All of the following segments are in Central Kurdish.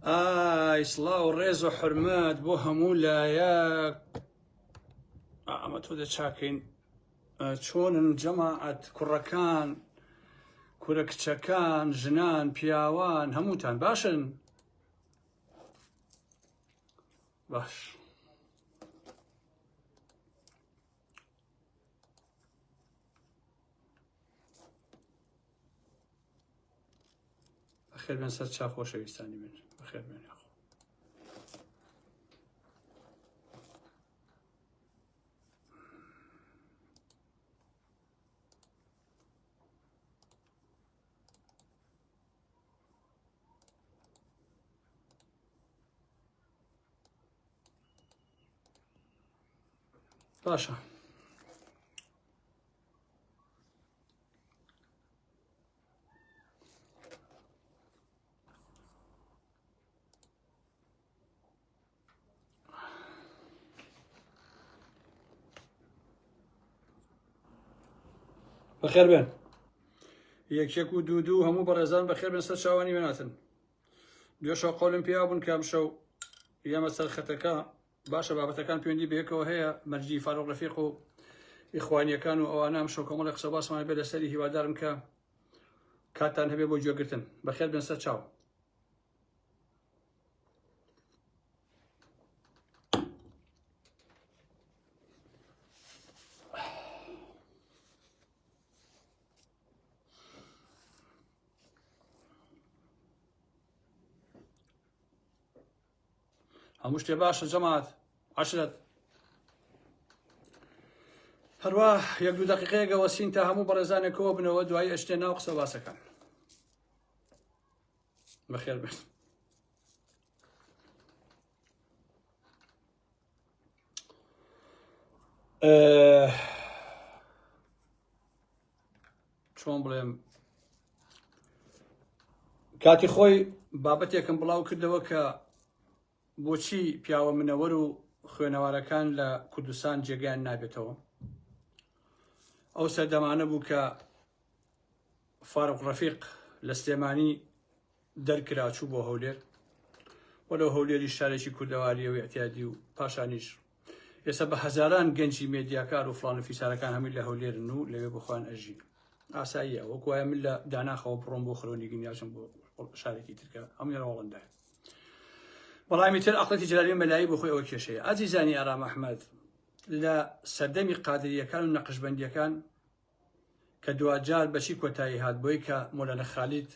ئای سڵاو ڕێز و حرمەت بۆ هەموو لایە ئەمە تۆ دەچاکەین چۆنن جەماعەت کوڕەکان کورە کچەکان ژنان پیاوان هەمووتان باشن باش بەخێر بێن سەر چا خۆشەویستانی من بەخێر بێن یاخۆ باشە بەخێر بێن یەکێک و دوو دوو هەموو بەڕێزان بەخێر بێن سەر چاوانی وێناتن دوێشە قۆلم پێیا بوون کام شەو یەمە سەر خەتەکە باشە بابەتەکان پوێندی بەیەکەوە هەیە مەرجی فاروق رفیق و ئیخوانیەکان و ئەوانە ئەم شۆکۆمەڵی قسە باسمان بێ لەسەری هیوادارم کە کاتان هەبێ بۆ گوێگرتن بەخێر بن سەر چاو هەموو شتێ باشە جەماعەت عەشرەت هەروا یەک دوو دەقیقەیەگە وەسین تا هەموو بەڕێزانێکەوە بنەوە دوایی ئەشتێ ناو قسە باسەکان بەخێر بێت چۆن بڵێم کاتی خۆی بابەتێکم بڵاو کردەوە کە بۆچی پیاوە منەوەر و خوێنەوارەکان لە کوردستان جێگەیان نابێتەوە ئەو سەردەمانە بوو کە فاروق ڕەفیق لە سلێمانی دەرکرا چوو بۆ هەولێر و لەو هەولێری شارێکی کوردەواریە و اعتیادی و پاشانیش ئێستا بە هەزاران گەنجی مێدیاکار و فلان و فیسارەکان هەمووی لە هەولێرن و لەوێ بخۆیان ئەژین ئاساییە وەک وایە من لە داناخەوە بڕۆم بۆ خرۆنی گنیاچم بۆ شارێکی ترکە ئەم یێرە وەڵندایە بەڵامی تر ئەقڵەتی جلالی مەلایی بۆ خۆی ئەوە کێشەیە ئازیزانی ئارام ئەحمد لە سەردەمی قادریەکان و نەقشبندیەکان کە دواجار بەچی کۆتایی هات بۆی کە مۆلانا خالید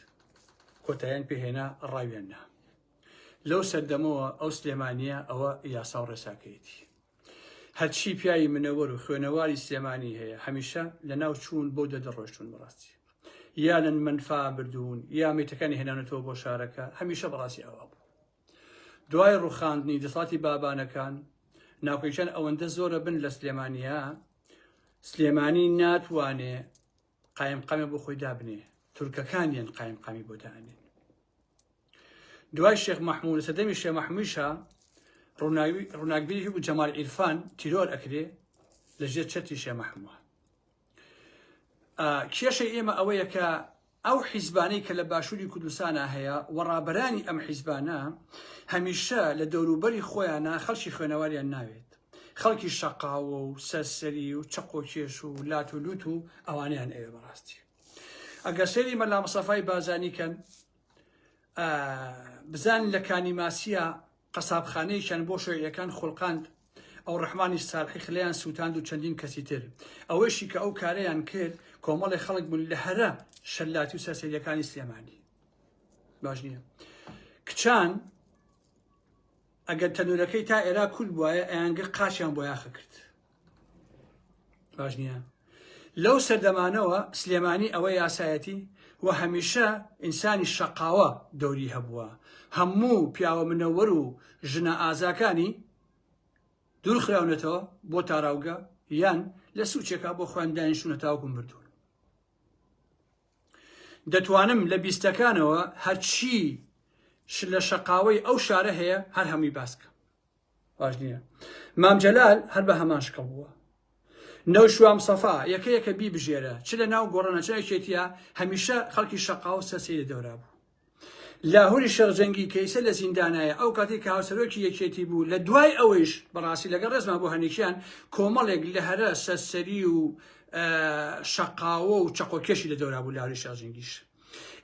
کۆتاییان پێهێنا ڕاویان نا لەو سەردەمەوە ئەو سلێمانیە ئەوە یاسا و ڕێساکەیەتی هەرچی پیاوی منەوەر و خوێنەواری سلێمانی هەیە هەمیشە لە ناو چوون بۆ دەدەڕۆشتون بەڕاستی یانن منفا بردوون یا میتەکانی هێنانەتەوە بۆ شارەکە هەمیشە بەڕاستی ئەوە بوو دوای ڕوخاندنی دەسەڵاتی بابانەکان ناوکەیشان ئەوەندە زۆرە بن لە سلێمانیا سلێمانی ناتوانێ قایم قامێ بۆ خۆی دابنێ تورکەکانیان قایم قامی بۆ دانێن دوای شێخ مححمود لە سەدەمی شێ مححمیشە ڕووناکبیری و جەمال ئیرفان تیرۆر ئەکرێ لە ژێر چەتی شێ مححموە کێشەی ئێمە ئەوەیە کە ئەو حیزبانەی کە لە باشووری کوردستانە هەیە و ڕابەرانی ئەم حیزبانە هەمیشە لە دەوروبەری خۆیانە خەڵکی خوێنەواریان ناوێت خەڵکی شەقاوە و سەرسەری و چەقۆکێش و لات و لووت و ئەوانیان ئەوێ بەڕاستی ئەگەر سێری مەلا مسەفای بازانی کەن بزان لە کانی ماسیە قەسابخانەیەکیان بۆ شۆیعیەکان خوڵقاند ئەو ڕەحمانی سالحی خلێیان سوتاند و چەندین کەسی تر ئەوەشی کە ئەو کارەیان کرد کۆمەڵی خەڵک بوون لە هەرە شەلاتی و سەرسەریەکانی سلێمانی باش نییە کچان ئەگەر تەنورەکەی تا ئێرا کول بواە ئەیانگە قاچیان بۆ یاخە کرد باش نییە لەو سەردەمانەوە سلێمانی ئەوە یاسایەتی و هەمیشە ئینسانی شەقاوە دەوری هەبووە هەموو پیاوە منەوەر و ژنە ئازاکانی دوور خراونەتەوە بۆ تاراوگە یان لە سوچێکا بۆ خۆیان دانیشتونە تاوکم بردوون دەتوانم لە بیستەکانەوە هەرچی لە شەقاوەی ئەو شارە هەیە هەر هەمووی باسکە باش نییە مام جەلال هەر بە هەمان شکڵ بووە نەوشوام سەفا یەکە یەکە بی بژێرە چ لە ناو گۆڕە نەچەکێتە هەمیشە خەڵکی شەقا و سەسی لە دەورا بوو لاهوری شەرجەنگی کەیسە لە زیندانایە ئەو کاتی کە هاوسەرۆکی یەکێتی بوو لە دوای ئەوەیش بەڕاستی لەگە ڕێزما بۆ هەنێکیان کۆمەڵێک لە هەرە سەرسەری و شەقاوە و چەقۆکێشی لە دەورا بوو لاوری شەرجەنگیش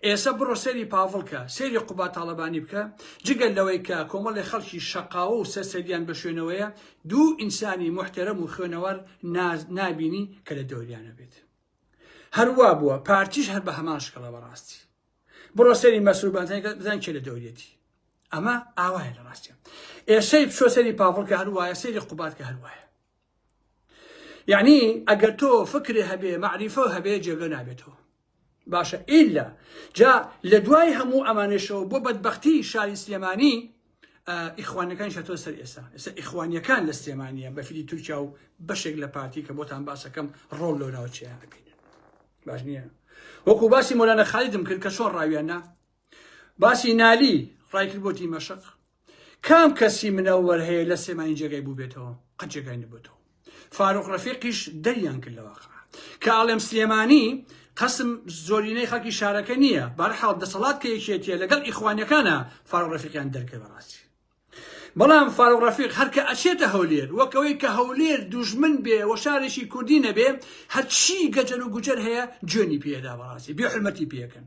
ئێسە بڕۆ سەیری پاڤڵ کە، سەیری قوباد تاڵەبانی بکە، جگە لەوەی کە کۆمەڵێ خەڵکی شەقاوە و سەرسەریان بە شوێنەوەیە، دوو ئینسانی موحتەرەم و خوێنەوار نابینی کە لە دەوریانە بێت. هەر وا بووە، پارتیش هەر بە هەمان شکڵە بەڕاستی. بڕۆ سەیری مەسرور بارزانی کە بزان کێ لە دەوریەتی. ئەمە ئاوایە لە ڕاستیان. ئێسەی بچۆ سەیری پاڤڵ کە هەر وایە، سەیری قوباد کە هەر وایە. یەعنی ئەگەر تۆ فکرێ هەبێ مەعریفە هەبێ جێگە نابێتەوە باشە ئیلا جا لە دوای هەموو ئەمانێشەوە بۆ بەدبختی شاری سلێمانی ئیخوانەکان شەتۆ سەر ئێسا ئێستا ئیخوانیەکان لە سلێمانە بەفری تورکیا و بەشێک لە پارتی کە بۆتان باسەکەم ڕۆڵ لۆ ناوچیان بکەین باش نییە وەکو باسی مۆلانە خالیدم کرد کە چۆن ڕاویانە باسی نالی ڕایکرد بۆ دیمەشق کام کەسی منەوەر هەیە لە سلێمانی جێگای بووبێتەوە قەت جێگای نەبێتەوە فاروق ڕەفیقیش دەریان کرد لەوە کە ئاڵێم سلێمانی قسم زۆرینەی خەکی شارەکە نییە بەرحاڵ دەسەڵات کە یەکێتە لەگەڵ ئیخوانەکانە فاروق ڕەفیقیان دەرکە بەڕاستی بەڵام فاروق ڕەفیق هەرکە ئەچێتە هەولێر وەکەوەی کە هەولێر دوژمن بێ و شارێکی کوردی نەبێ هەرچی گەجەر و گوجەر هەیە جوێنی پێدا بەڕاستی بێ حرمەتی پێکەن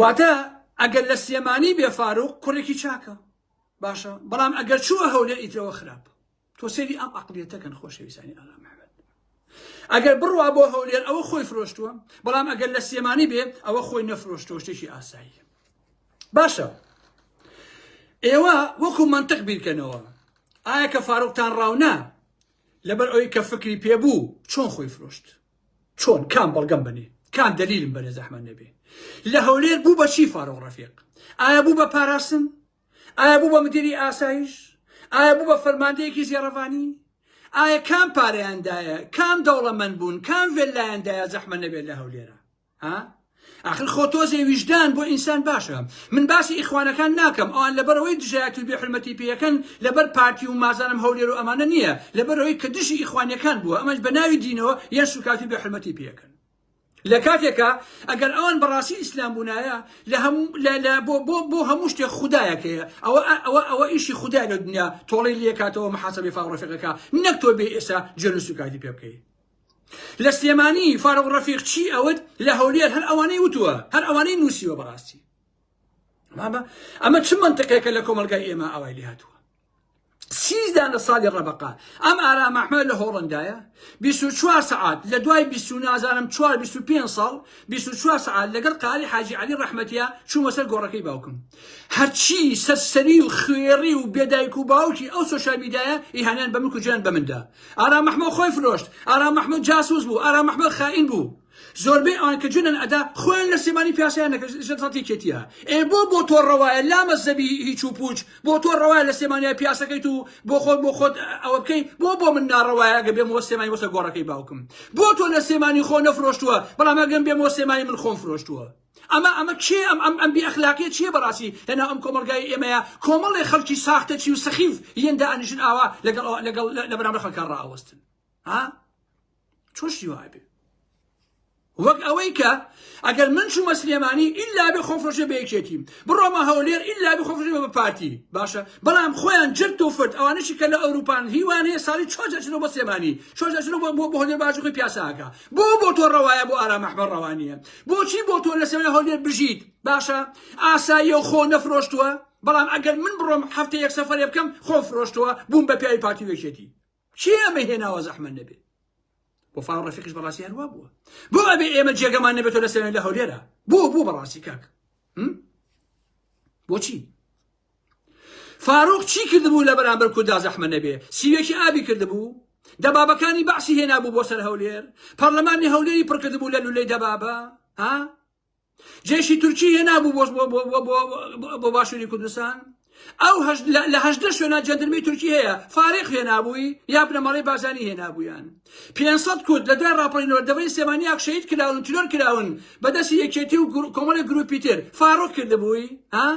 واتە ئەگەر لە سلێمانی بێ فاروق کوڕێکی چاکە باشە بەڵام ئەگەر چووە هەولێر ئیترەوە خراپ تۆ سێری ئەم ئەقلیەتەکەن خۆشەویستانی ئاغا محمد ئەگەر بڕوا بۆ هەولێر ئەوە خۆی فرۆشتووە بەڵام ئەگەر لە سلێمانی بێ ئەوە خۆی نەفرۆشتۆ شتێکی ئاسایی باشە ئێوە وەکو منطق بیرکەنەوە ئایا کە فاروقتان ڕاونا لەبەر ئەوی کە فکری پێبوو چۆن خۆی فرۆشت چۆن کام بەڵگەم بەنێ کام دەلیلم بەنێ زەحمەت نەبێ لە هەولێر بوو بە چی فاروق ڕەفیق ئایا بوو بە پاراستن ئایا بوو بە مدیری ئاسایش ئایا بوو بە فەرماندەیەکی زێڕەڤانی ئایا کام پارەیاندایە کام دەوڵەمەند بوون کام ڤێلایاندایە زەحمە نەبێت لە هەولێرە ها ئاخر خۆ تۆزێ ویژدان بۆ ئینسان باشە من باسی ئیخوانەکان ناکەم ئەوان لەبەرەوەی دژایەتی و بێحرمەتی پێەکەن لەبەر پارتی و مازانم هەولێر و ئەمانە نییە لەبەرەوەی کە دژی ئیخوانەکان بووە ئەمەش بە ناوی دینەوە یان سوکاتی و بێحرمەتی پێەکەن لە کاتێکە ئەگەر ئەوان بەڕاستی ئیسلام بوونایە لە بۆ هەموو شتێک خدایەکەیە ئەوە ئەوە ئەوە ئیشی خدای لە دنیا تۆڵی لەکاتەوە محاسبی فاڕفەکەەکە نەک تۆ بێ ئێستا جۆن سوکاتی پێ بکەیت لە سلێمانی فاروق ڕەفیق چی ئەوت لە هەولێر هەر ئەوانەی وتووە هەر ئەوانەی نووسیوە بەڕاستی مامە ئەمە چ منتقێکە لە کۆمەلگای ئێمە ئاوای لێ هاتووە سیزدان لە ساڵی ڕەبقا ئەم ئارام ئەحمە لە هۆڵندایە 24 سعات لە دوای 20 نازانم 4 25 ساڵ 24 سعات لەگەڵ قالی حاجی علی ڕەحمەتە چوومە سەر گۆڕەکەی باوکم هەرچی سەرسەری و خوێڕی و بێ دایک و باوکی ئەو سۆشیال میدایە ئیهانەیان بە ملک و جیان بەمن دا ئارام محمەد خۆی فرۆشت ئارام محمەد جاسوس بوو ئارام محمەد خائین بوو زۆربەی ئەوان کە جونن ئەدا خۆیان لە سێمانی پیاسیان نەکردسەتی کێتیە ئێ بۆ بۆ تۆ ڕەوایە لامە زەبی هیچ و پوچ بۆ تۆ ڕەوایە لە سێمانیا پیاسەکەیت و بۆ خۆت بۆ خۆت ئەوە بکەی بۆ بۆ من ناڕەوایە گە بێمەوە سێمای وەسە گۆڕەکەی باوکم بۆ تۆ لە سێمانی خۆ نەفرۆشتووە بەڵام ئەگەم بێمەوە سێمای من خۆم فرۆشتووە ئەمە ئەمە کێ ئەم ئەم ئەم بێ ئەخلاقیە چیە بەڕاستی لەناو ئەم کۆمەڵگای ئێمەیە کۆمەڵێ خەڵکی ساختەچی و سەخیف یەن دائەنیشن ئاوا لەگەڵ ئەوە لەگەڵ لە بەرامبەر خەڵکان ڕاوەستن ها چۆن شتی وای بێ وەک ئەوەی کە ئەگەر من چوومە سلێمانی ئللا بێ خۆفرۆشێ بە یەکێتیم بڕۆمە هەولێر ئللا بێ خۆفرۆشێ بە پارتی باشە بەڵام خۆیان جرت و فرد ئەوانەشی کە لە ئەوروپان هیوان هەیە ساڵی چۆن دەچنەوە بە سلێمانی چۆن دەچنەوە بۆ بۆ هەولێر باش خۆی پیاساکە بۆ بۆ تۆ ڕەوایە بۆ ئارام ئەحمەد ڕەوا نییە بۆچی بۆ تۆ لەسەوێ هەولێر بژیت باشە ئاساییە و خۆ نەفرۆشتووە بەڵام ئەگەر من بڕۆم هەفتە یەک سەفەرێ بکەم خۆ فرۆشتووە بووم بە پیاوی پارتی وێشێتی چی ئەمە هێناوە زەحمە نەبێت بۆ فاڵ ڕەفیقش بەڕاستی هەروە بووە بۆ ئەبێ ئێمە جێگەمان نەبێتەوە لەسەوێ لە هەولێرە بۆ بوو بەڕاستی کاک بۆچی فاروق چی کردبوو لە بەرامبەر کوردا زەحمە نەبێ سیوێکی ئابی کردبوو دەبابەکانی بەعسی هێنابوو بۆ سەر هەولێر پەرلەمانی هەولێری پڕکردبوو لە لولەی دەبابە ها جێشی تورکی هێنابوو بۆش بۆ باشووری کوردستان ئەو لە هەشدە شوێنە جەندرمی تورکی هەیە فارق هێنابووی یا بنەمەڵی بازانی هێنابوویان 500 کورد لە دوای راپەرینەوە دەبەی سێمانی ئاکشەید کراون تلۆر کراون بەدەستی یەکێتی و کۆمەڵی گروپی تر فاروق کردبووی ها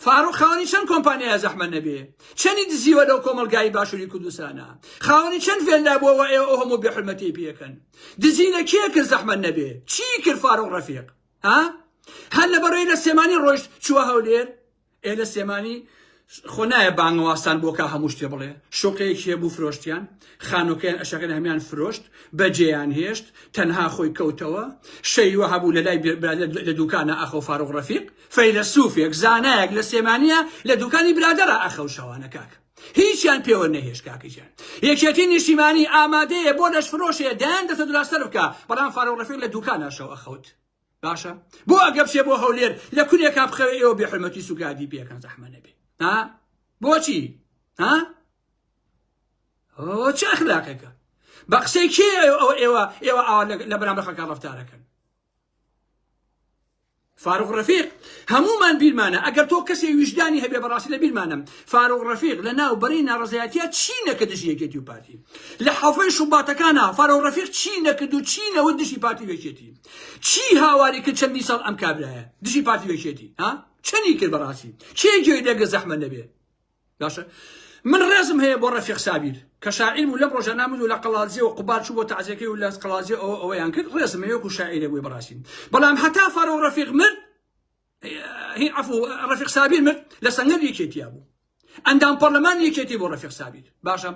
فاروق خاوەنی چەند کۆمپانیایە زەحمەت نەبێ چەنی دزیوە لەو کۆمەلگایی باشووری کوردستانە خاوەنی چەند فێلدا بووە وە ئێوە ئەو هەموو بێحرمەتی پێکەن دزی لە کێ کرد زەحمەت نەبێ چی کرد فاروق ڕەفیق ها هەر لە بەڕێی لە سێمانی ڕۆیشت چووە هەولێر ئێ لە سێمانی خۆ نایە بانگەوازتان بۆ کا هەموو شتێ بڵێ شوقەیەکی هەبوو فرۆشتیان خانۆکەیان ئەشەکەن هەمیان فرۆشت بەجێیان هێشت تەنها خۆی کەوتەوە شەیوە هەبوو لە لای برادە لە دوکانە ئاخۆ فاروق ڕەفیق فەیلەسوفێک زانایەک لە سێمانە لە دوکانی برادەرە ئاخەو شەوانە کاک هیچیان پێوە نەهێش کاکەجیان یەکێتی نیشتیمانی ئامادەیە بۆ لەش فرۆشەیە دەیان دەسە دراستەر بکە بەڵام فاروق ڕەفیق لە دوکانە شەو ئەخەوت باشە بۆ ئەگەپسێ بۆ هەولێر لە کورێ کا بخەوێ ئێوە بێ حرمەتی سوگادی پێکان زەحمە نەبێ ها بۆچی ها ئەوە چ ئەخلاقێکە بە قسەی کێ ئەو ئێوە ئێوە ئاوا لە بەرام بەخەکان ڕفتارەکەن فاروق ڕفیق هەمومان بیرمانە ئەگەر تۆ کەسی ویژدانی هەبێ بەڕاستی لە بیرمانم فاروق ڕفیق لە ناو بەرەی ناڕزایەتە چی نەکە دژی یەکێتی و پارتی لە حەفەی شوباتەکانە فاروق ڕفیق چی نەکرد و چی نەوە دژی پارتی وێکێتی چی هاواری کرد چەندی ساڵ ئەم کابرایە دژی پارتی وێکێتی ها چەنی کرد بەڕاستی چێ گوێی لەگە زەحمە نەبێ باشە من ڕێزم هەیە بۆ ڕەفیق سابیر کە شاعیر بوو لەم ڕۆژە نامد و لە قەڵازیە و قوبار چوو بۆ تازیەکەی و لە قەڵازیە ئەوە ئەوەیان کرد ڕێزم هەیەکو شاعیرە بووی بەڕاستی بەڵام هەتا فەرۆ ڕەفیق مرد هی عفو رفیق سابیر مرد لە سەنگەر یەکێتیا بوو ئەندام پەرلەمان یەکێتی بۆ رفیق سابیر باشە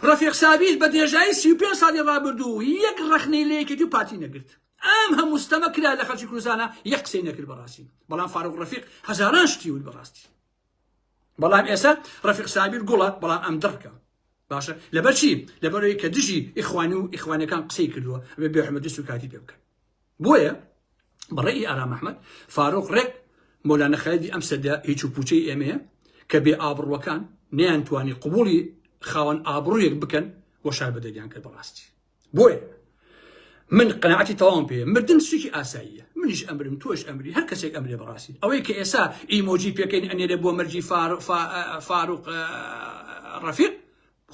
رفیق سابیر بە درێژایی 35 ساڵی ڕابردوو یەک ڕخنەی لە یەکێتی و پارتی نەگرت ئەم هەموو ستەمە کرا لە خەڵکی کوردستانە یەک قسەی نەکرد بەڕاستی بەڵام فاروق رفیق هەزاران شتی وت بەڕاستی بەڵام ئێسە ڕەفیق سابیر گوڵە بەڵام ئەم دڕکە باشە لەبەرچی لەبەرەوەی کە دژی ئیخوان و ئیخوانەکان قسەی کردووە بێ بێحمەدی سوکاتی پێ بکەن بۆیە بەڕێی ئارام ئەحمد فاروق ڕێک مۆلانە خەلدی ئەم سەدە هیچ و پوچەی ئێمەیە کە بێ ئابڕوەکان نیان توانی قوبولی خاوەن ئابڕویەک بکەن وە شار بەدەریان کرد بەڕاستی بۆیە من قەنەعەتی تەواوم پێ مردن شتێکی ئاساییە منیش ئەمرم تۆش ئەمری هەر کەسێک ئەمرێ بەڕاستی ئەوەی کە ئێسا ئیمۆجی پێکەین ئەنێرێ بۆ مەرجی فاروق ڕەفیق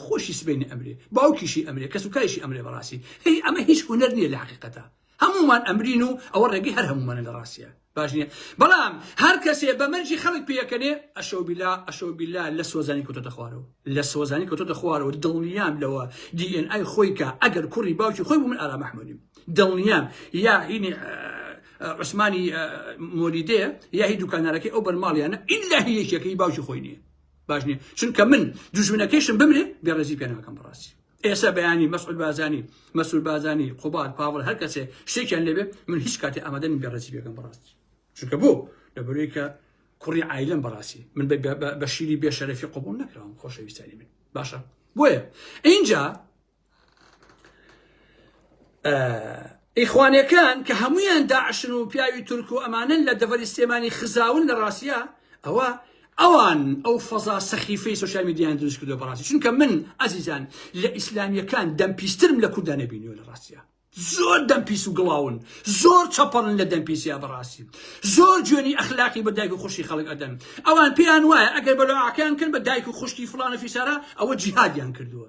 خۆشی سبینی ئەمرێ باوکیشی ئەمرێ کەس و کایشی ئەمرێ بەڕاستی هی ئەمە هیچ هوەر نییە لە حقیقەتە هەموومان ئەمرین و ئەوە ڕێگەی هەر هەموومانە لە ڕاستیا باش نیە بەڵام هەر کەسێ بە مەرجی خەڵک پێەکەنێ ئەشەو بیلا ئەشەو بیلا لە سۆزانی کەوتۆتە خوارەوە لە سۆزانی کەوتۆتە خوارەوە دڵنیام لەوە دی ئێن ئای خۆی کە ئەگەر کوڕی باوکی خۆی بوو من ئارام ئەحمەدیم دڵنیام یا هینی عوسمانی مۆلیدێ یا هی دوکانارەکەی ئەو بەرماڵیانە ئیلا هی یەکێکەی باوکی خۆی نییە باش نییە چونکە من دوژمنەکەیشم بمرێ بێڕێزی پێ ناکەم بەڕاستی ئێستا بەیانی مەسعود بارزانی مەسرور بارزانی قوباد پاڤڵ هەر کەسێ شتێکیان لێبێ من هیچ کاتی ئامادە نیم بێڕێزی بێگەم بەڕاستی چونکە بۆ لەبەرەوەی کە کوڕی عیلم بەڕاستی من بە- بە- بە- بە شیری بێشەرەفی قبول نەکراوم خۆشەویستانی من باشە بۆیە اینجا ئیخوانەکان کە هەمویان داعشن و پیاوی تورک و ئەمانن لە دەڤەری سلێمانی خزاون لە ڕاستە ئەوە ئەوان ئەو فەزا سەخیفەی سوسیال میدیان دروست کردو بەڕاستی چونکە من ئازیزان لە ئیسلامیەکان دەمپیسترم لە کورددا نەبینیوە لە ڕاستە زۆر دەمپیس و گڵاون زۆر چەپەڵن لە دەمپیسیا بەڕاستی زۆر جوێنی ئەخلاقی بە دایک و خوشی خەڵک ئەدەن ئەوان پێیان وایە ئەگەر بەلۆعاکەیان کرد بە دایک و خوشکی فلانە فیسارە ئەوە جیهادیان کردووە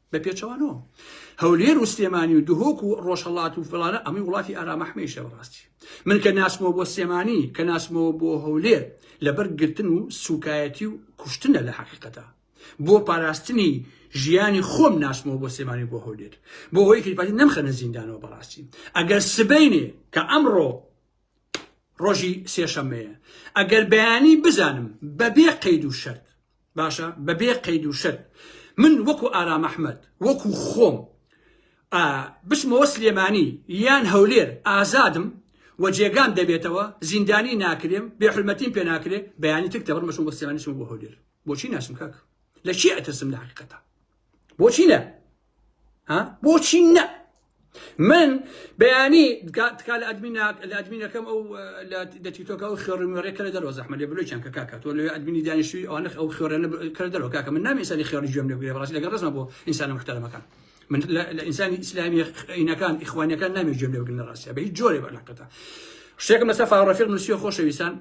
بە پێچەوانەوە هەولێر و سلێمانی و دهۆک و ڕۆژهڵات و فلانە ئەمەی وڵاتی ئارامەحمەیشە بەڕاستی من کە ناسمەوە بۆ سلێمانی کە ناسمەوە بۆ هەولێر لەبەر گرتن و سوکایەتی و کوشتنە لە حقیقەتە بۆ پاراستنی ژیانی خۆم ناسمەوە بۆ سلێمانی بۆ هەولێر بۆ هۆی کریپاتی نەمخەنە زیندانەوە بەڕاستی ئەگەر سبینێ کە ئەمڕۆ ڕۆژی سێشەمەیە ئەگەر بەیانی بزانم بەبێ قەید و شەرت باشە بەبێ قەید و شەرت من وەکو ئارام ئەحمەد وەکو خۆم ئە بچمەوە سلێمانی یان هەولێر ئازادم و جێگام دەبێتەوە زیندانی ناکرێم بێ حرمەتیم پێ ناکرێ بەیانی تک دەبڕمەشم بۆ سلێمانی چم بۆ هەولێر بۆچی ناچم کاک لە چی ئەترسم لە حقیقەتە بۆچی نە ها بۆچی نە من بەیانی تکا لە ئەدمیناک لە ئەدمینەکەم ئەو لە تیتۆکە ئەو خێڕیمێڕێ کە لە دەرەوە زەحمە لێ بلوچیان کە کاکە تۆ لە ئەدمینی دانیشتوی ئەوانە ئەو خێڕێنە کە لە دەرەوە کاکە من نامی ئینسانی خێڕی گوێم لێ بگرێ بەڕاستی لەگەڵ ڕێزمە بۆ ئینسانە محتەرەمەکان من لە ئینسانی ئیسلامی عینەکان ئیخوانەکان نامی گوێم لێ بگرنە ڕاستە بە هیچ جۆرێ بەلاقەتە شتێکم لەسەر فاڕەفیق نووسیە خۆشەویستان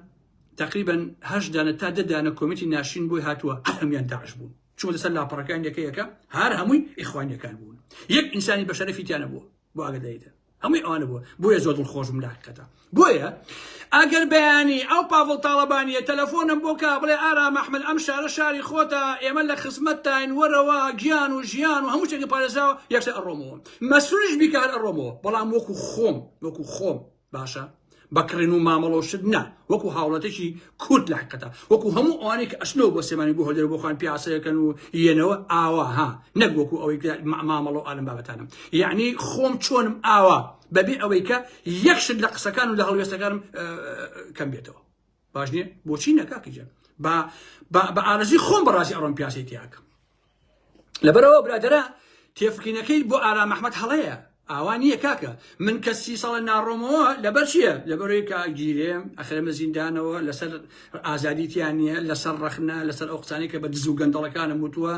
تقریبا هەشت دانە تا دە دانە کۆمیتی ناشین بۆی هاتووە هەمیان داعش بوون چوو لەسەر لاپەڕەکان یەکە یەکە هەر هەمووی ئیخوانیەکان بوون یەک ئینسانی بەشەرەفی تیانە بووە بۆ ئاگدایتە هەمووی ئەوانە بووە بۆیە زۆر دڵ خۆشم لاقەتە بۆیە ئەگەر بەیانی ئەو پاڤڵ تاڵەبانیە تەلەفۆنم بۆ کا بڵێ ئارا مەحمل ئەم شارە شاری خۆتە ئێمە لە خزمەت تاین وەرەوە گیان و ژیان و هەموو شتێکی پارێزاوە یەکسە ئەڕۆمەوە مەسروش بیکار ئەڕۆمەوە بەڵام وەکو خۆم وەکو خۆم باشە بە کڕین و مامەڵە و شت نا وەکو هاوڵاتێکی کورد لە حقیقەتە وەکو هەموو ئەوانەی کە ئەچنەوە بۆ سلێمانی بۆ هەولێر بۆ خۆیان پیاسەیەکەن و یەنەوە ئاوا ها نەک وەکو ئەوەی کە ما- مامەڵە و ئالم بابەتانم یعنی خۆم چۆنم ئاوا بەبێ ئەوەی کە یەک شت لە قسەکان و لە هەڵوێستەکانم ئە، کەم بێتەوە باش نییە بۆچی نەکاکیجان با با بە ئارەزوی خۆم بەڕاستی ئەڕۆم پیاسەی تیاکەم لەبەرەوە برادەرە تێفکینەکەی بۆ ئارام ئەحمەد هەڵەیە ئاوا نییە کاکە من کە سی ساڵە ناڕۆمەوە لەبەر چییە لەبەرەوەی کاگیرێم ئەخرمە زیندانەوە لەسەر ئازادیتیان نییە لەسەر ڕەخنە لەسەر ئەو قسانی کە بە دز و گەندەڵەکانم وتووە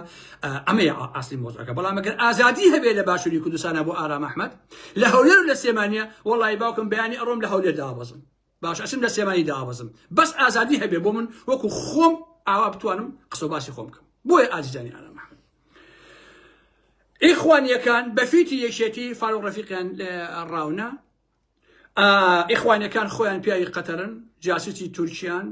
ئەمەی ئاستی مۆزەکە بەڵام ئەگەر ئازادی هەبێ لە باشووری کوردستانە بۆ ئارام ئەحمەد لە هەولێر لە سێمانە وڵی باوکم بیانی ئەڕۆم لە هەولێر دابەزم باشە ئەچم لە سلێمانی دابەزم بەس ئازادی هەبێ بۆ من وەکو خۆم ئاوا بتوانم قسە باسی خۆم بکەم بۆیە ئازیزانی ئارام محمد ئیخوانیەکان بەفیتی یەکێتی فاروق ڕەفیقیان ڕاونە ئیخوانەکان خۆیان پیاوی قەتەرن جاسوسی تورکیان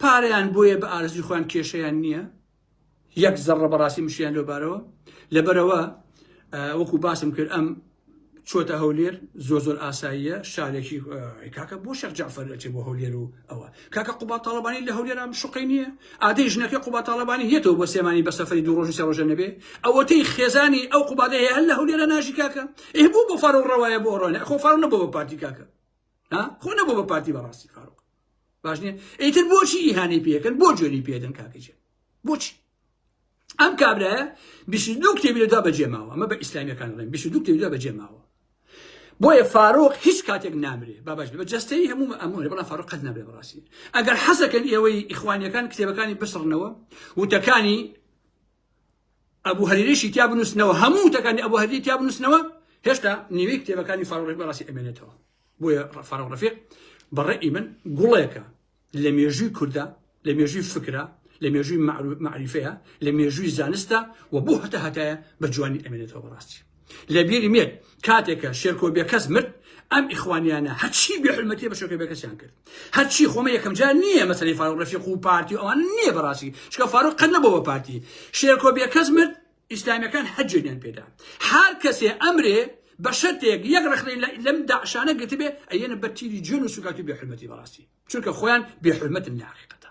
پاریان بۆیە بە ئارزی خۆیان کێشیان نییە یەک زەڕڕە بەڕاستی مشکلیان لەوبارەوە لەبەرەوە وەکو باسم کرد ئەم چۆتە هەولێر زۆر زۆر ئاساییە شارێکی کاکە بۆ شەق جعفر ئەچێ بۆ هەولێر و ئەوە کاکە قوبا تاالبانی لە هەولێرام شقی نییە ئادەی ژنەکە قوبا تاالبانی هێتەوە بۆ سێمانی بە سەفری دوو ڕۆژی سەڕۆژە نەبێ ئەوەتەی خێزانی ئەو قوبادەیە هەر لە هەولێرە ناژی کاکە ئێ بوو بۆ فارۆ ڕەوایە بۆ ڕۆنە خۆ فارۆ نەبوو بە پارتی کاکە ها خۆ نەبوو بە پارتی بەڕاستی فاروق باش نیە ئیتر بۆچی ئیهانەی پێکەن بۆ جوێنی پێدەن کاکەجێ بۆچی ئەم کابرایە دو کتێبی لەدا بەجێ ماوە ئەمە بە ئیسلامیەکان ڵێن دو کتێبی لەدا بەجێ ماوە بۆیە فاروق هیچ کاتێک نامرێ بابش بە جستەی هەموو ئەمۆێ بەڵام فاروق قەت نابێ بەڕاستی ئەگەر حەزەکەن ئێوەی ئیخوانیەکان کتێبەکانی بسڕنەوە وتەکانی ئەبو هەریرەیشی تیا بنووسنەوە هەموو وتەکانی ئەبو هەریری تیا بنووسنەوە هێشتا نیوەی کتێبەکانی فاڕۆڕێک بەڕاستی ئەمێنێتەوە بۆیە فاڕۆ ڕەفیق بەڕێی من گوڵێکە لە مێژووی کووردا لە مێژووی فکرە لە مێژووی معروف معریفەیە لە مێژووی زانستە و بۆ هەتا هەتایە بە جوانی ئەمێنێتەوە بەڕاستی لەبیرم یەت کاتێک کە شێرکۆ بێکەس مرد ئەم ئیخوانیانە هەرچی بێ حلمەتی بە شێرکۆ بێکەسیان کرد هەرچی خۆمە یەکەم جار نییە مەسەلەی فاروق رەفیق و پارتی و ئەوان نییە بەڕاستی چکە فاروق قەت نەبوو بە پارتی شێرکۆ بێکەس مرد ئیسلامیەکان هەجێنیان پێدا هەر کەسێ ئەمرێ بە شەرتێک یەک رەخنەی لەم داعشانە گرتبێ ئەیەنە بە تیری جوێن و سوکاتی بێ حلمەتی بەڕاستی چونکە خۆیان بێ حلمەتن لە حقیقەتە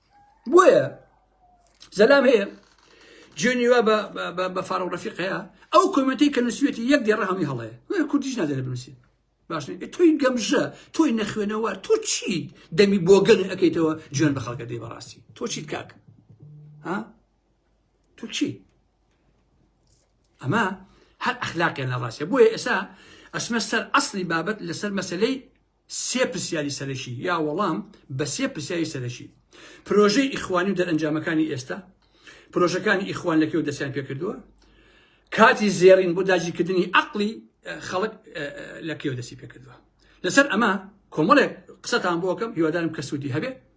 بۆیە زەلام هەیە جوێنی وا بە فارە و ڕفیق هەیە ئەو کۆمەتی کە نووسێتی یەک دێڕە هەمی هەڵەیە وێ کوردیش نادەێت بنووسێت باش تۆی گەمژە تۆی نەخوێنەوە تۆ چیت دەمی بۆگەن ئەەکەیتەوە جوێن بە خەڵکە دەی بەڕاستی تۆ چیت کاک ها تۆ چی ئەمە هەر ئەخلاقیان لە ڕاستە بۆیە ئێسا ئەسمە سەر ئەسلی بابەت لەسەر مەسلەی سێ پرسیاری سەرەکی یا وەڵام بە سێ پرسیاری سەرەکی پرۆژەی ئیخوانی و دەرئەنجامەکانی ئێستا پرۆژەکانی ئیخوان لەکەو دەستیان پێکردووە کاتی زێڕین بۆ داگیرکردنی عقلی خەڵک لە کێو دەستی پێکردووە لەسەر ئەمە کۆمەڵێک قسەتان بۆکەم هیوادارم کە سوودی هەبێت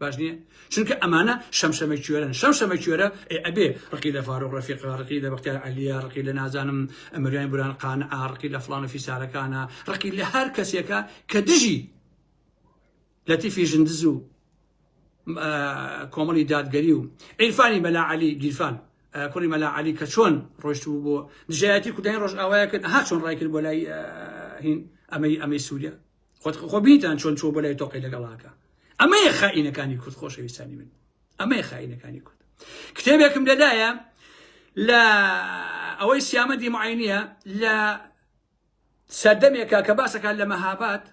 باش نییە چونکە ئەمانە شەمشەمە کوێرن شەمشەمە کوێرە ئێ ئەبێ ڕقی لە فاروق ڕەفیق ڕقی لە بەختیار عەلیە ڕقی لە نازانم ئەمریان بران قان ئاڕقی لە فلان و فیسارەکانە ڕقی لە هەر کەسێکە کە دژی لەتیفی ژندز و کۆمەڵی دادگەری و عیرفانی مەلا علی گیرفان کوڕی مەلا علی کە چۆن ڕۆشتبوو بۆ دژایەتی کوردانی ڕۆژئاوایە کرد ها چۆن ڕای کرد بۆ لای هین ئەمەی ئەمەی سووریا خۆت خۆ بیتان چۆن چۆ بۆ لای تۆقی لەگەڵاکە ئەمەیە خائینەکانی کورد خۆشەویستانی من ئەمەیە خائینەکانی کورد کتێبێکم لەدایە لە ئەوەی سیامە دیمعینە لە سەردەمێکە کە باسەکان لە مەهابات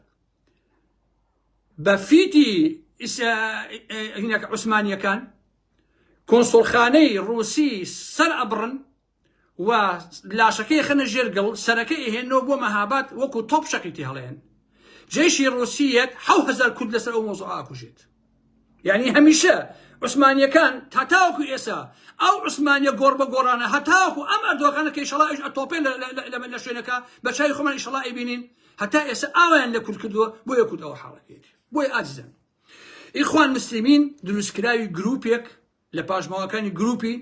بە فیتی هینەکە عوسمانیەکان کۆنسڵخانەی ڕوسی سەر ئەبڕن و لاشەکەی ئەخەنە ژێر گڵ، سەرەکەی ئەهێننەوە بۆ مەهاباد وەکو تۆپ شەقی تێ هەڵێن. جەیشی ڕووسی یەت حەو هەزار کورد لەسەر ئەو مەوزوعە ئاکوژێت. یانی هەمیشە عوسمانیەکان تا تاوەکو ئێسا ئەو عوسمانیە گۆڕ بە گۆڕانە هەتاوەکو ئەم ئەردۆغانە کە ئیشەڵا ئەوش ئەتۆپێ لە شوێنەکە بە چاوی خۆمان ئیشەڵا ئەیبینین هەتا ئێسا ئاوایان لە کورد کردووە بۆیە کورد ئەوە حاڵەتێک بۆی ئازیزن ئیخوان مسلمین دروستکراوی گروپێک لە پاشماوەکانی گروپی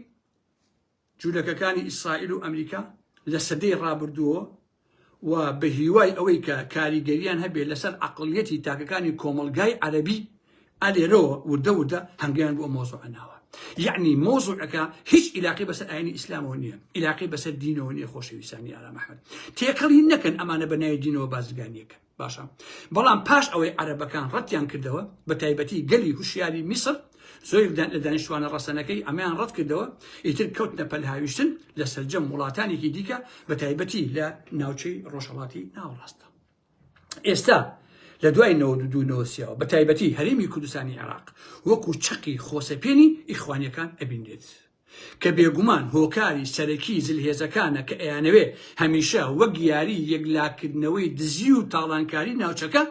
جولەکەکانی ئیسرائیل و ئەمریکا لە سەدەی ڕابردووەوە و بە هیوای ئەوەی کە کاریگەرییان هەبێت لەسەر عەقڵیەتی تاکەکانی کۆمەڵگای عەرەبی، ئە لێرەوە وردە وردە هەنگەیان بۆ ئەم مەوزوعە ناوە. یەعنی مەوزوعەکە هیچ ئیلاقەی بەسەر ئاینی ئیسلامەوە نییە، ئیلاقەی بەسەر دینەوە نییە خۆشەویستانی ئارام ئەحمەد. تێکەڵی نەکەن ئەمانە بە ناوی دینەوە بازرگانییەکەن. باشە بەڵام پاش ئەوەی عەرەبەکان ڕەتیان کردەوە بە تایبەتی گەلی هوشیاری میسر زۆر لە دانیشتوانە ڕەسەنەکەی ئەمەیان ڕەت کردەوە ئیتر کەوتنە پەلهاویشتن لە سەرجەم وڵاتانێکی دیکە بە تایبەتی لە ناوچەی ڕۆژهڵاتی ناوەڕاستە ئێستا لە دوای نەوەدوونەوەسیەوە بە تایبەتی هەرێمی کوردستانی عێراق وەکو چەقی خۆسەپێنی ئیخوانیەکان ئەبینێت کە بێگومان هۆکاری سەرەکی زلهێزەکانە کە ئەیانەوێ هەمیشە وەک یاری یەکلاکردنەوەی دزی و تاڵانکاری ناوچەکە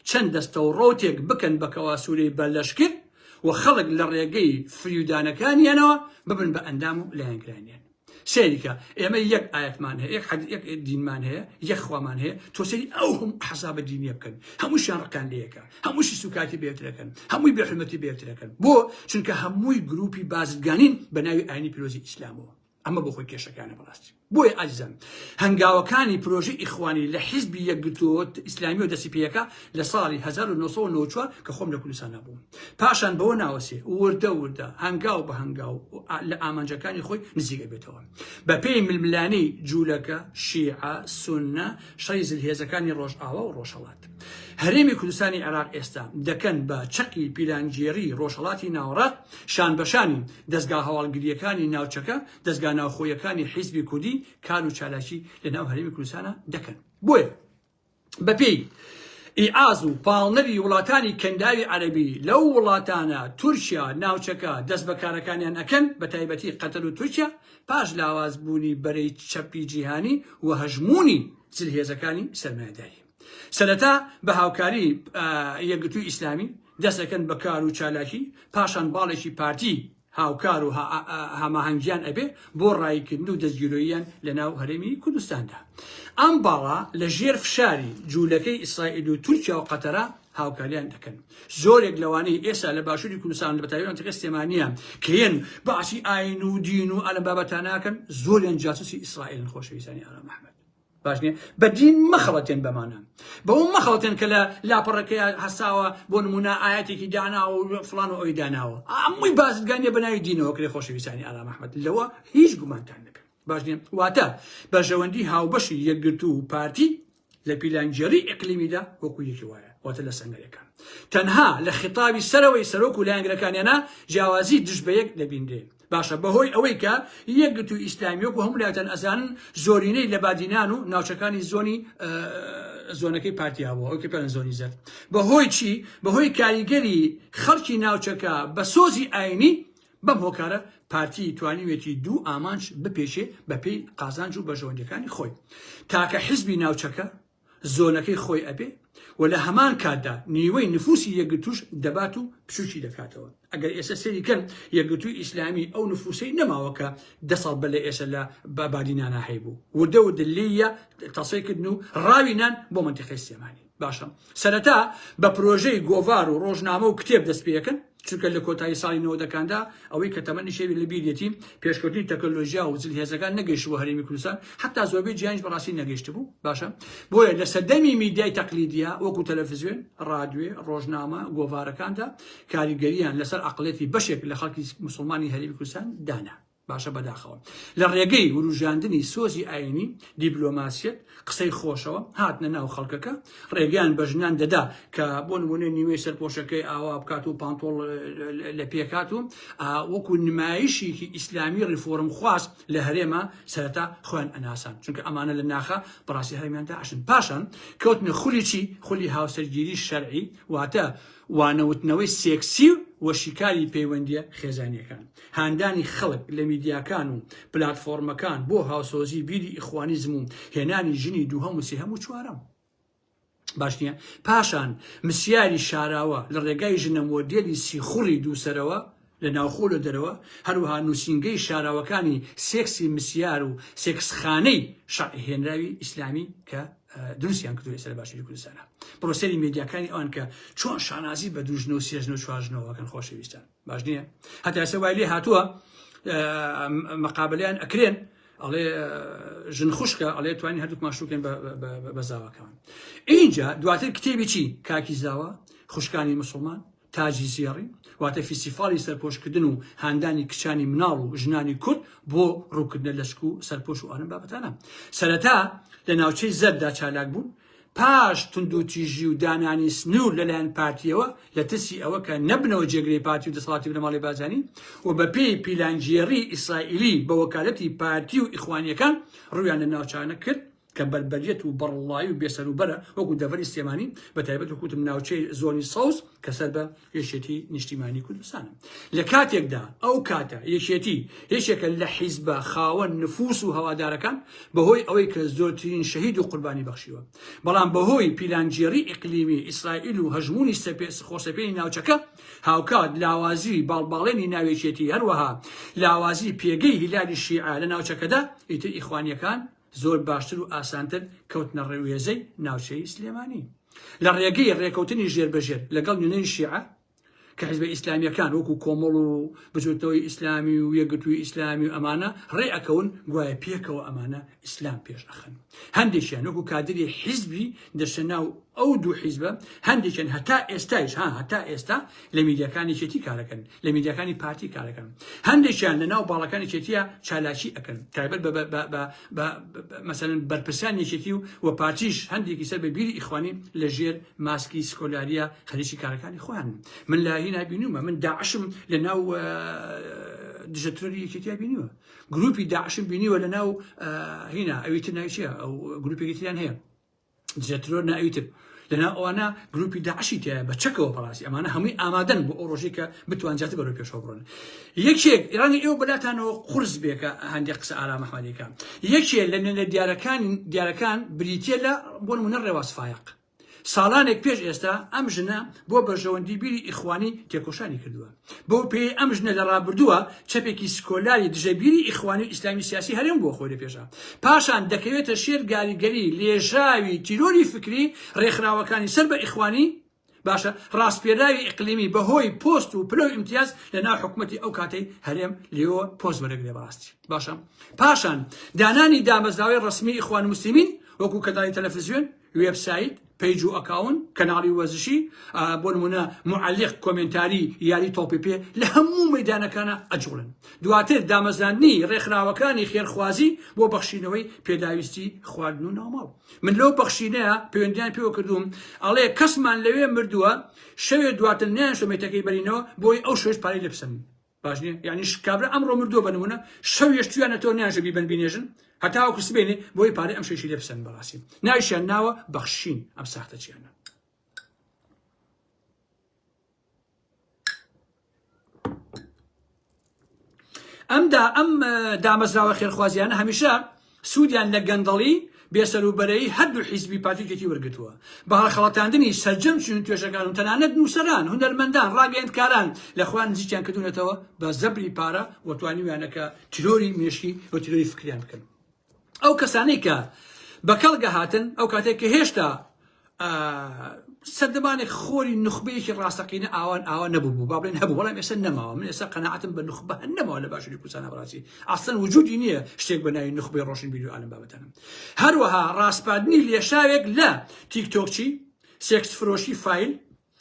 چەند دەستەوڕەوتێک بکەن بە کەواسوورەی بە لەشکر و خەڵک لە ڕێگەی فریودانەکانیانەوە ببن بە ئەندام و لایەنگرانیان سەیری کە ئێمە یەک ئاەتمان هەیە یەک حەد یەک دینمان هەیە یەک خوامان هەیە تۆ سەیری ئەو هەم حەسابە دینیە بکەن هەمووشیان ڕقان لەیەکە هەمووشی سوکایەتی بە یەکترەکەن هەمووی بێ حورمەتی بە یەکترەکەن بۆ چونکە هەمووی گروپی بازرگانین بە ناوی ئاینی پیرۆزی ئیسلامەوە ئەمە بۆ خۆی کێشەکانە بەڕاستی بۆیە ئازیزان هەنگاوەکانی پرۆژی ئیخوانی لە حیزبی یەکگرتووەوە ئیسلامی و دەسی پێەکە لە ساڵی 1994 کە خۆم لە کوردستان نەبووم پاشان بەوە ناوەسێ وردە وردە هەنگاو بە هەنگاو لە ئامانجەکانی خۆی نزیکە بێتەوە بە پێی ململانی جوولەکە شیعە سونە شەڕی زلهێزەکانی ڕۆژئاوا و ڕۆژهەڵات هەرێمی کوردستانی عێراق ئێستا دەکەن بە چەقی پیلانگێڕی ڕۆژهەڵاتی ناوەڕاست شانبەشانی دەزگا هەواڵگرییەکانی ناوچەکە دەزگا ناوخۆیەکانی حیزبی کوردی کار و چالاکی لەناو هەرێمی کوردستانە دەکەن بۆیە بەپێی ئیعاز و پاڵنەری وڵاتانی کەنداوی عەربی لەو وڵاتانە تورکیا ناوچەکە دەست بەکارەکانیان ئەکەن بە تایبەتی قەتەر و تورکیا پاش لاواز بوونی بەرەی چەپی جیهانی و هەژمونی زلهێزەکانی سەرمایداری سەرەتا بە هاوکاری یەکگرتووی ئیسلامی دەستەکەن بە کار و چالاکی پاشان باڵێکی پارتی هاوکار و هەماهەنگیان ئەبێ بۆ ڕایکردن و دەستگیرۆییان لە ناو هەرێمی کوردستاندا ئەم باڵا لە ژێر فشاری جوولەکەی ئیسرائیل و تورکیا و قەتەرە هاوکاریان دەکەن زۆرێک لەوانەی ئێستا لە باشووری کوردستان لە بەتاویان تەکە سلێمانە کێن باسی ئاین و دین و ئەلم بابەتاناکەن زۆریان جاسوسی ئیسرائیل خۆشەویستانی ئارام ئەحمەد باش نیە بە دین مەخەڵەتێن بەمانە بەوە مەخەڵەتێن کە لە لاپەڕەکەیە هەساوە بۆ نمونە ئاەتێکی داناوە و فلان و ئەوی داناوە ئەمووی بازرگانیە بە ناوی دینەوە کرێ خۆشەویستانی ئالا محمد لەوە هیچ گومانتان نەبێت باش نیە واتە بەرژەوەندی هاوبەشی یەکگرتوو و پارتی لە پیلانگێڕی ئەقلیمیدا وەکو یەکی وایە واتە لە سەنگەرەکان تەنها لە خطابی سەرەوەی سەرۆک و لایەنگرەکانیانە جیاوازی دژ بە یەک دەبینرێت باشە بەهۆی ئەوەی کە یەکگرتووی ئیسلامی وەکو هەموو لایتان ئەزانن زۆرینەی لە بادینان و ناوچەکانی زۆنی زۆنەکەی پارتیا بوو ئەوکە پێن زۆنی زەر بەهۆی چی بەهۆی کاریگەری خەڵکی ناوچەکە بە سۆزی ئاینی بەم هۆکارە پارتی توانیوێتی دوو ئامانج بپێچێ بەپی قازانج و بەژەوەندەکانی خۆی تاکە حزبی ناوچەکە زۆنەکەی خۆی ئەبێ و لە هەمان کاتدا نیوەی نفوسی یەکگرتووش دەبات و بچووکی دەکاتەوە. ئەگەر ئێسە سەیری کەن یەکگرتووی ئیسلامی ئەو نفوسەی نەماوە کە دە ساڵ بەر لە ئێسە لە بادی نانا هەیبوو. وردە وردە لێیە تەسەی کردن و ڕاوی نان بۆ مەنتیقەی سلێمانی. باشە سەرەتا بە پرۆژەی گۆڤار و ڕۆژنامە و کتێب دەست پێ ئەکەن، چونکە لە کۆتایی ساڵی نەوەدەکاندا ئەوەی کە تەمەنی شێوی لە بیریەتی پێشکەوتنی تەکنەلۆژیا و زلهێزەکان نەگەیشتبوو هەرێمی کوردستان حتا زۆربەی جیهانیش بەڕاستی نەگەیشتبوو باشە بۆیە لە سەردەمی میدیای تەقلیدیا وەکو تەلەفزیۆن ڕادوێ ڕۆژنامە گۆڤارەکاندا کاریگەریان لەسەر عقلێتی بەشێک لە خەڵکی مسلمانی هەرێمی کوردستان دانا باشە بەداخەوە لە ڕێگەی وروژاندنی سۆزی ئاینی دیبلۆماسیەت قسەی خۆشەوە هاتنە ناو خەڵکەکە ڕێگەیان بە ژنان دەدا کە بۆ نمونێ نیوەی سەرپۆشەکەی ئاوا بکات و پانتۆڵ لە پێکات و وەکو نمایشیکی ئیسلامی ڕیفۆرم خواست لە هەرێمە سەرتا خوێن ئەناسان چونکە ئەمانە لە ناخە بەڕاستی هەرمیان داشن پاشان کەوتنە خولی چی خولی هاوسەرگیری شەرعی واتە وانەوتنەوەی سێکسی و شیکاری پەیوەندیە خێزانیەکان هاندانی خەڵک لە میدیاکان و پلاتفۆڕمەکان بۆ هاوسۆزی بیری ئیخوانیزم و هێنانی ژنی دووهەم و سێهەم و چوارەم باش نییە پاشان مسیاری شاراوە لە ڕێگای ژنە مۆدێلی سیخوڕی دووسەرەوە لە ناوخۆ لە دەرەوە هەروها نووسینگەی شاراوەکانی سێکسی مسیار و سێکسخانەی شەڕهێنراوی ئیسلامی کە دروستیان کردو ئێستا لە باشووری کوردستانە پرۆسەری مێدیاکانی ئەوان کە چۆن شانازی بە دوژنە و سێژنە و چوارژنەوەکەن خۆشەویستان باش نییە هەتا ئێستا وای لێ هاتووە مەقابلیان ئەکرێن ئەڵێ ژن خوشکە ئەڵێ توانین هەردووک ماشوکەن بە زاواکەمان اینجا دواتر کتێبی چی کاکی زاوە خوشکانی مسلمان تاجی زیێڕی واتە فیسیفاڵی سەرپۆشکردن و هاندانی کچانی مناڵ و ژنانی کورد بۆ ڕووکردنە لەشک و سەرپۆش و ئەرم بابەتانە سەرەتا لە ناوچەی زەردا چالاک بوون پاش توندوتیژی و دانانی سنوور لەلایەن پارتییەوە لە ترسی ئەوە کە نەبنەوە جێگرەی پارتی و دەسەڵاتی بنەماڵەی بارزانی و بەپێی پیلانگێڕیی ئیسرائیلی بە وەکالەتی پارتی و ئیخوانییەکان ڕوویان لە ناوچانە کرد کە بەربەریەت و بەڕڵڵایی و بێسەروبەرە وەکو دەڤەری سلێمانی بەتایبەت وەکوتم ناوچەی زۆنی سەوز کە سەر بە یەکێتی نیشتیمانی کوردستانە لە کاتێکدا ئەو کاتە یەکێتی یەکێکە لە حیزبە خاوەن نفوس و هەوادارەکان بەهۆی ئەوەی کە زۆرترین شەهید و قوربانی بەخشیوە بەڵام بەهۆی پیلانگێڕی ئیقلیمی ئیسرائیل و هەژمونی سەپێس خۆسەپێنی ناوچەکە هاوکات لاوازی باڵباڵێنی ناوێکێتی هەروەها لاوازی پێگەی هیلالی شیعە لە ناوچەکەدا ئیتر ئیخوانیەکان زۆر باشتر و ئاسانتر کەوتنە ڕێوێزەی ناوچەی سلێمانی لە ڕێگەی ڕێکەوتنی ژێربەژێر لەگەڵ نوێنەری شیعە کە حیزبە ئیسلامییەکان وەکوو کۆمەڵ و بزووتنەوەی ئیسلامی و یەکگرتووی ئیسلامی و ئەمانە ڕێ ئەکەون گوایە پێکەوە ئەمانە ئیسلام پێش ئەخەن هەندێکیان وەکوو کادری حیزبی دەچنە ناو ئەو دوو حیزبە هەندێکیان هەتا ئێستایش ها هەتا ئێستا لە میدیاکان یەکێتی کارەکەن لە میدیاکانی پارتی کارەکەن هەندێکیان لە ناو باڵەکانی چێتیە چالاکی ئەەکەن تایبەت بە مەسەن بەرپرسان یەکێتی و و پارتیش هەندێکی سەر بە بیری ئیخوانی لە ژێر ماسکی سکۆلاریە خەریکی کارەکانی خۆیان من لای نبینومە من داعشم لە ناو دژە ترۆری یەکێتیا بینیوە گروپی داعشم بینیوە لە ناو هینا ئەوی تر ناویچە ئەو گروپێکی تریان هەیە جەترۆر نائیتب لەناو ئەوانە گروپی داعشی تایە بە چەکەوە بەڕاستی ئەمانە هەمووی ئامادەن بۆ ئەو ڕۆژی کە بتوان جات بەرەو پێشەوە بڕن یەکێک ڕەنگە ئێوە بەلاتانەوە قرس بێکە هەندێک قسە ئارام ئەحمەدیەکە یەکێ لە نوێنە دیارەکان دیارەکان بریتە لە بۆ نمونە ڕێواز فایق ساڵانێک پێش ئێستا ئەم ژنە بۆ بەرژەوەندی بیری ئیخوانی تێکۆشانی کردووە بەو پێیەی ئەم ژنە لە ڕابردووە چەپێکی سکۆلاری دژە بیری ئیخوانی و ئیسلامی سیاسی هەرێم بۆ خۆی لەپێشا پاشان دەکەوێتە ژێر گاریگەری لێژاوی تیرۆری فکری ڕێکخراوەکانی سەر بە ئیخوانی باشە ڕاسپێراوی ئیقلیمی بەهۆی پۆست و پلە و ئیمتیاز لە ناو حکوومەتی ئەو کاتەی هەرێم لێوە پۆست وەرەگرێ بەڕاستی باشە پاشان دانانی دامەزراوەی ڕسمی ئیخوان مسلمین وەکو کەداری تەلەفزیۆن وێب سایت، پەیج و ئەکاون، کەناڵی وەرزشی، بۆ نموونە موعەلیق، کۆمێنتاری، یاری تۆپی پێ لە هەموو مەیدانەکانا ئەجوڵێن. دواتر دامەزراندنی ڕێکخراوەکانی خێرخوازی بۆ بەخشینەوەی پێداویستی خواردن و ناوماڵ. من لەو بەخشینەیا پەیوەندیان پێوە کردووم ئەڵێ کەسمان لەوێ مردووە شەوێ دواتر نایەن شەمێتەکەی بەرینەوە بۆی ئەو شەویش پارەی لێ بسەنن. باش نیە یانی کابرا ئەمڕۆ مردووە بنمونە شەو یشتویانە تۆ نیانشە بیبن بینێژن هەتاوەکو سبێنێ بۆی پارەی ئەم شەشی لێ بسەن بەڕاستی ناویشیان ناوە بەخشین ئەم ساختە چیانە ئەمدا ئەم دامەزراوە خێرخوازیانە هەمیشە سوودیان لە گەندەڵی، بێسەروبەرەیی هەردوو حیزبی پارتی و یەکێتی وەرگرتووە. بە هەڵخەڵەتاندنی سەرجەم چین و توێژەکان و تەنانەت نووسەران، هونەرمەندان، ڕاگەیەندکاران لە خۆیان نزیکیان کردوونەتەوە بە زەبری پارە و توانیویانە کە تیرۆری مێشکی و تیرۆری فکریان بکەن. ئەو کەسانەی کە بە کەڵک هاتن ئەو کاتەی کە هێشتا سەردەمانێک خۆری نوخبەیەکی ڕاستەقینە ئاوان ئاوا نەبوو با بڵێن هەبوو بەڵام ئێستا نەماوە من ئێستا قەناعەتم بە نوخبە هەن نەماوە لە باشووری کوردستان بەڕاستی ئەسڵەن وجودی نییە شتێک بە ناوی نوخبەی ڕۆشن بیر و عالم بابەتەنم هەروەها ڕاسپاردنی لێشاوێک لە تیکتۆکچی سێکس فرۆشی فایل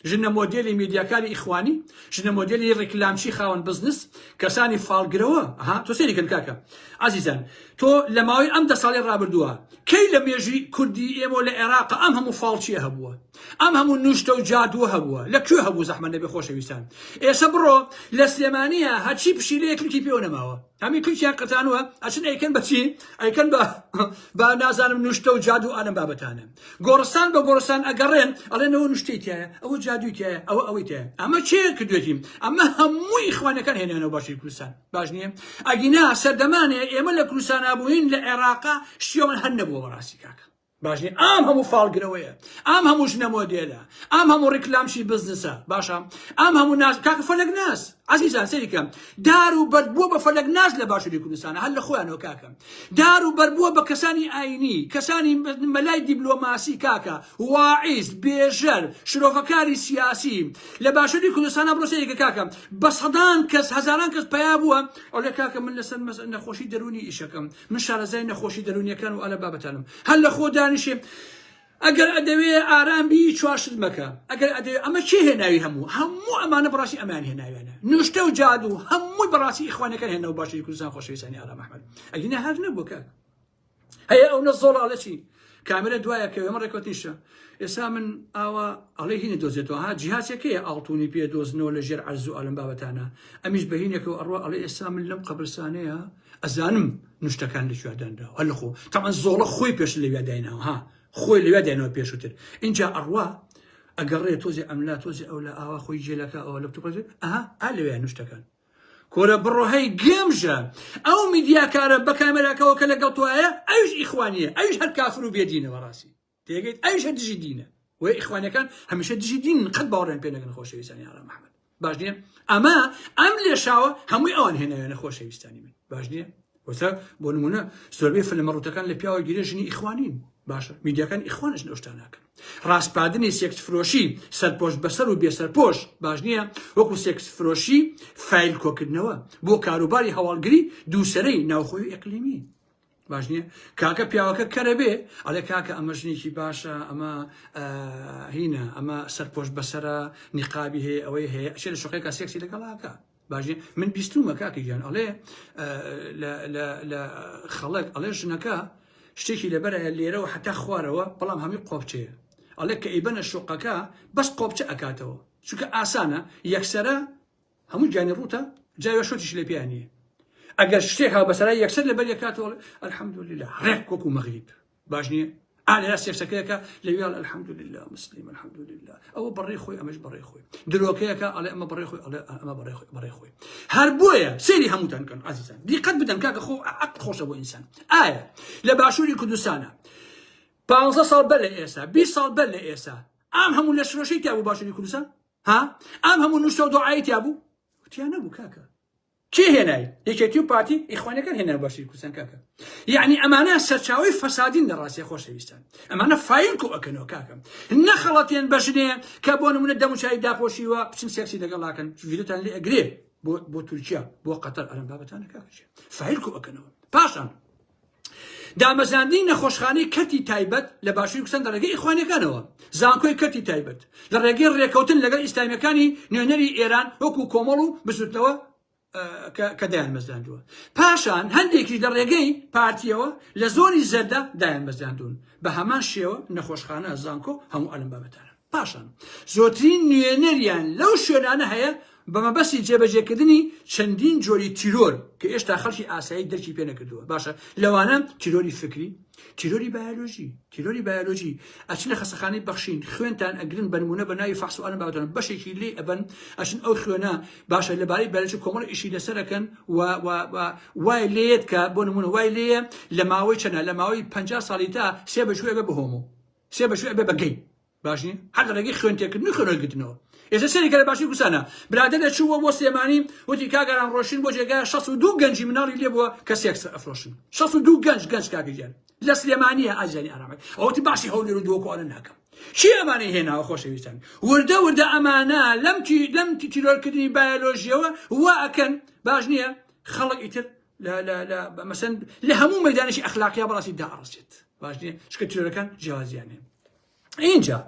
ژنە مۆدێلی میدیاکاری ئیخوانی، ژنە مۆدێلی ڕیکلامچی خاوەن بزنس، کەسانی فاڵگرەوە، ها تۆ سەیری کەن کاکە ئازیزان تۆ لە ماوەی ئەم دە ساڵەی ڕابردووە کەی لە مێژووی کوردی ئێمەوە لە ئێراقا ئەم هەموو فاڵچیە هەبووە ئەم هەموو نوشتە و جادووە هەبووە لە کوێ هەبوو زەحمەت نەبێ خۆشەویستان ئێسە بڕۆ لە سلێمانیە هەرچی پشیلەیە کلکی پێوە نەماوە هەمی تورکیان قەتانوە ئەچن ئەیکەن بە چی ئەیکەن بە با نازانم نوشتە و جادو ئالم بابەتانە گۆڕستان بە گۆڕستان ئەگەڕێن ئەڵێنەوە نوشتەی تایە ئەوە جادوی تایە ئەوە ئەوەی تایە ئەمە چێ کردێتیم ئەمە هەمووی خوانەکان هێنانەوە باشی کوردستان باش نییە ئەگینا سەردەمانێ ئێمە لە کوردستان بووین لە عێراقا شتیان هەر نەبووە بەڕاستی کاکە باش نیە ئام هەموو فاڵ گرەوەیە ئام هەموو ژنە مۆدێلە ئام هەموو ڕیکلام شی بزنسە باشە ئام هەموو ناز کاکە فەلەک ناز عزیزان سەیری کەم دار و بەرد بووە بە فەلەک ناز لە باشووری کوردستانە هەر لە خۆیانەوە کاکە دار و بەرد بووە بە کەسانی ئاینی کەسانی مەلای دیبلۆماسی کاکە واعیز بێژەر شرۆڤەکاری سیاسی لە باشووری کوردستانە بڕۆ سەیری کە کاکە بە سەدان کەس هەزاران کەس پیا بووە ئەو لە کاکە من لەسەر مەس نەخۆشی دەروونی ئیشەکەم من شارەزای نەخۆشی دەرونیەکان و ئالە بابەتانم هەر لە خۆ دانیشێ ئەگەر ئەدەوێ ئارام بی چواشت مەکە ئەگەر ئەدەوێ ئەمە چی هێناوی هەموو هەموو ئەمانە بڕاستی ئەمان هێناویانە نوشتە و جادو هەمووی بەڕاستی ئیخوانەکان هێنەوە باشی کوردستان خۆشەویستانی ئارام ئەحمەد ئەگینە هەر نەبوو کاک هەیە ئەو نە زۆڵاڵە چی کامرە دوایە کە ئەمە ڕێکوتنیشە ئێستا من ئاوا ئەڵێ هینە دۆزێتەوە ها جیهازەکەی ئاڵتونی پێ دۆزنەوە لە ژێر عەرز و ئالم بابەتانە ئەمیش بەهینێکەوە ئەڕوە ئەڵێ ئێستا من لەم قەبرسانەیە ئەزانم نوشتەکان لە کوێ دانراوە هەر لەخۆ تەمان زۆڵە خۆی پێش لەوێ دایناوە ها خۆی لەوێ داینەوە پێشووتر اینجا ئەڕوا ئەگەڕێ تۆزی ئەملا تۆزی ئەو لە ئاوا خۆی جێلەکە ئەوە لە توپەت ئەها ئا لەوێ نوشتەکان کۆرە بڕۆهەی گێمژە ئەو میدیاکارە بە کامێراکەەوە کە لەگەڵ تۆایە ئەوش ئیخوانیە ئەوش هەر کافر و بێدینەوە ڕاستی تێگەیت ئەویشە دژی دینە وە ئیخوانەکان هەمیشە دژی دین قەت باوەڕیان پێ نەگەن خۆشەویستانی ئارام محمد باش نییە ئەمە ئەم لێشاوە هەمووی ئەوان هێنایانە خۆشەویستانی من باش نییە وەسە بۆ نمونە زۆربەی فلمە ڕوتەکان لە پیاوە گیرە ژنی ئیخوانین باشە میدیاکان ئیخوانش نەشتان ناکەن ڕاستپادنی سێکس فرۆشی سەرپۆش بەسەر و بێسەرپۆش باش نییە وەکو سێکس فرۆشی فیل کۆکردنەوە بۆ کاروباری هەواڵگری دووسرەی ناوخۆی ئەقلیمی باش نییە کاکە پیاوەکە کەرە بێ ئەڵێ کاکە ئەمە ژنێکی باشە ئەمە هینە ئەمە سەرپۆش بەسرە نیقابی هەیە ئەوەی هەیە ئەشێ لە شوقێکا سێکسی لەگەڵاکە باش من بیستومە کاکە گیان ئەڵێ لە خەڵک ئەڵێ ژنەکە شتێکی لەبەرە لێرەوە حتا خوارەوە بەڵام هەمی قۆپچەیە ئەڵێ کە ئیبەنە شوقەکە بەس قۆپچە ئەکاتەوە چونکە ئاسانە یەکسرە هەموو گیانی ڕووتە جا وێشۆتیش لێ پێیان نییە ئەگەر شتێک هاو بەسەرای یەکسەر لەبەر یەکاتەوە الحمدلله ڕێک وەکو مەغریب باش نییە ئالێرا سێکسەکەیەکە لەویال الحمدلله مسلیم الحمدلله ئەوە بەڕێ خۆی ئەمەش بەڕێ خۆی درۆکەیەکە ئەڵێ ئەمە بەڕێ خۆی ئەڵێ ئەمە بەڕێ خۆی بەڕێ خۆی هەر بۆیە سێری هەمووتان کەن عزیزان دیقەت بدەن کاکە خۆ عقل خۆشە بۆ ئینسان ئایا لە باشووری کوردستانە پانزە ساڵ بەر لە ئێستا بی ساڵ بەر لە ئێستا ئام هەموو لە شرۆشەی تیا بۆ باشووری کوردستان ها ئەم هەموو نووسەو دۆعای تیا بوو تیا نەبوو کاکە کێ هێنای یەکێتی و پارتی ئیخوانەکان هێنا باشی کوردستان کاکە یعنی ئەمانە سەرچاوی فەسادین لە ڕاستی خۆشەویستان ئەمانە فایل کو ئەکەنەوە کاکەم نەخەڵەتێن بەژنێ کە بۆ نمونە دەموچای داپۆشیوە بچن سێکسی لەگەڵاکەن ڤیدیۆتان لێ ئەگرێ بۆ بۆ تورکیا بۆ قەتەر ئەرم بابەتانە کاکە فایل کو ئەکەنەوە پاشان دامەزراندنی نەخۆشخانەی کەرتی تایبەت لە باشووری کوردستان لە ڕێگەی ئیخوانیەکانەوە، زانکۆی کەرتی تایبەت لە ڕێگەی ڕێکەوتن لەگەڵ ئیسلامیەکانی نوێنەری ئێران وەکو کۆمەڵ و بزوتنەوە کە دایانمەزراندووە، پاشان هەندێکیش لە ڕێگەی پارتیەوە لە زۆنی زەردە دایانمەزراندوون، بە هەمان شێوە نەخۆشخانە، زانکۆ هەموو ئەلم بابەتانە. پاشان زۆرترین نوێنەریان لەو شوێنانە هەیە بە مەبەستی جێبەجێکردنی چەندین جۆری تیرۆر کە ئێشتا خەڵکی ئاسایی درکی پێ نەکردووە باشە لەوانە تیرۆری فکری تیرۆری بایۆلۆژی تیرۆری بایۆلۆژی ئەچنە خەسەخانەی بەخشین خوێنتان ئەگرن بەنمونە بە ناوی فحس و ئەلم باوتن بەشێکی لێ ئەبن ئەچن ئەو خوێنە باشە لەبارەی بەرەج کۆمەڵ ئیشی لەسەرەکەن و وای لێت کە بۆ نمونە وای لێە لە ماوەی چەنە لە ماوەی 50 ساڵی تا سێ بەشوێ بە بهۆمەوە سێ بە شوێ ئەبێ بە گەی باش نیە هەر لە ڕێگەی خوێن تێکردن و خوێن وەرگرتنەوە ئێستا سەیری کە لە باشووری کوردستانە برادەر دەچووە بۆ سلێمانی وتی کاگەران ڕۆشتین بۆ جێگا 62 گەنجی مناڵی لێ بووە کە سێکس ئەفرۆشن 62 گەنج گەنج کاکە گیان لە سلێمانیە ئازیانی ئارامەک ئەوتی باسی هەولێر و دۆکۆنە ناکەم چی ئەمانەی هێناوە خۆشەویستان وردە وردە ئەمانە لەم تی لەم تی تیرۆرکردنی بایۆلۆژیەوە وا ئەکەن باش نییە خەڵک ئیتر لا لا لا مثلا لە هەموو مەدانێکی ئەخلاقیا بەڕاستی داڕزێت باش نیە شکە تیرۆرەکان جیازیانێ اینجا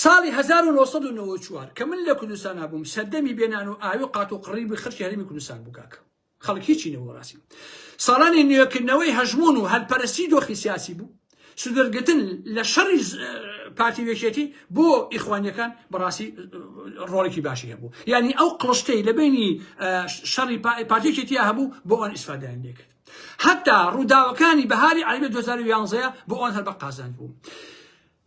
ساڵی 1994 کە من لە کوردستان بووم سەردەمی بێنان و ئاوی قات و قڕی بە خەرکی هەرمی کوردستان بووکاکە خەڵکیی نەوەڕاستی ساڵانی نوێکردنەوەی هەژمون و هەلپەرستی دۆخی سیاسی بوو سودرگتن لە شەڕی پارتی وێکێتی بۆ ئیخوانیەکان بەڕاستی ڕۆڵێکی باشی هەبوو یعنی ئەو قڵشتەی لە بینی شەڕی پارتیکێتی هەبوو بۆ ئەوان ئیسفادیان لێکرد حتا ڕووداوەکانی بەهاری عربی 2011 بۆ ئەوان هەر بە قازان بوو.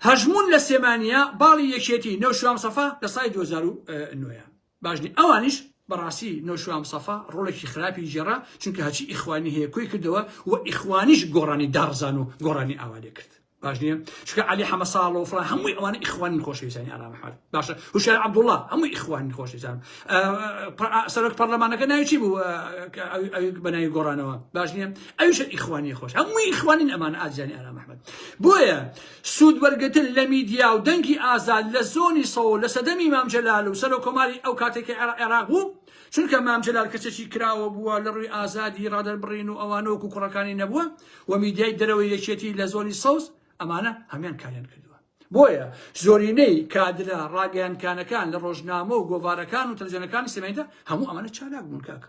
هەژمون لە سێمانە باڵی یەکێتی نەوشام سەفا لە سای 2009 باش نیە ئەوانیش بەڕاستی نۆشوا مصەفا ڕۆڵێکی خراپی گێڕا چونکە هەرچی ئیخوانی هەیە کۆی کردەوە و ئیخوانیش گۆڕانی داڕزان و گۆڕانی ئاوا لێ کرد باش نیە چونکە عەلی حەمە ساڵ و فڵان هەمووی ئەوانە ئیخوانین خۆشەویستانی ئارام ئەحمەد باشە هوشیار عەبدوڵڵا هەمووی ئیخوانین خۆشەویستان سەرۆک پەرلەمانەکە ناوی چی بوو ئەوی بە ناوی گۆڕانەوە باش نیە ئەویش ئیخوانی خۆش هەمووی ئیخوانین ئەمانە ئازیزانی ئارام ئەحمەد بۆیە سوود وەرگرتن لە میدیا و دەنگی ئازاد لە زۆنی سەوز لە سەردەمی مام جەلال و سەرۆک کۆماری ئەو کاتەی کە عێراق بوو، چونکە مام جەلال کەسێکی کراوە بووە لە ڕووی ئازادی ڕادەربڕین و ئەوانە وەکوو کوڕەکانی نەبووە و میدیای دەرەوەی یەکێتی لە زۆنی سەوز ئەمانە هەمان کاریان کردووە. بۆیە زۆرینەی کادرە ڕاگەیاندکانەکان لە ڕۆژنامە و گۆڤارەکان و تەلەفزیۆنەکانی سلێمانیدا هەموو ئەمانە چالاک بوون کاکە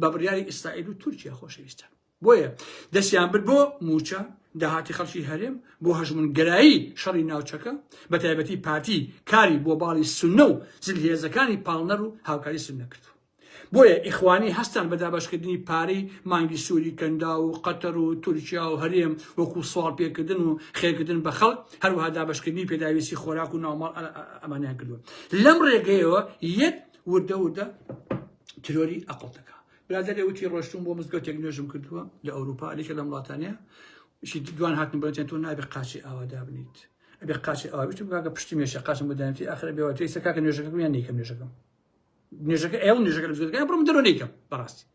بە بڕیاری ئیسرائیل و تورکیا خۆشەویستە بۆیە دەستیان برد بۆ موچە داهاتی خەڵکی هەرێم بۆ هەژمونگرایی شەڕی ناوچەکە بە تایبەتی پارتی کاری بۆ باڵی سنە و زلهێزەکانی پاڵنەر و هاوکاری سنە کرد بۆیە ئیخوانی هەستان بە دابشکردنی پارەی مانگی سووری کەندا و قەتەر و تورکیا و هەرێم وەکو سوال پێکردن و خێکردن بە خەڵک هەروها دابشکردنی پێداویستی خۆراک و ناوماڵ ئەمانیان کردو لەم ڕێگەیەوە یەک وردە وردە ترۆری ئەقڵ دەکا برادێ وتی ڕۆشتون بۆ مزگەوتێک نوێژم کردووە لە ئەوروپا لێکە لەم وڵاتانەیە شی دوان هاتن بەتێن تۆ نابێ قاچی ئاوا دابنیت ئەبێ قاچی ئاوا بشتم کاکە پشتی مێشە قاچم بدەنتی ئاخر بێەوە تێی سەکاکە نوێژەکە میان نیکەم نوێژەکەم نوێژەکە ئێوە نوێژەکە بزگەکە بڕم دەرۆ نیکەم بەڕاستی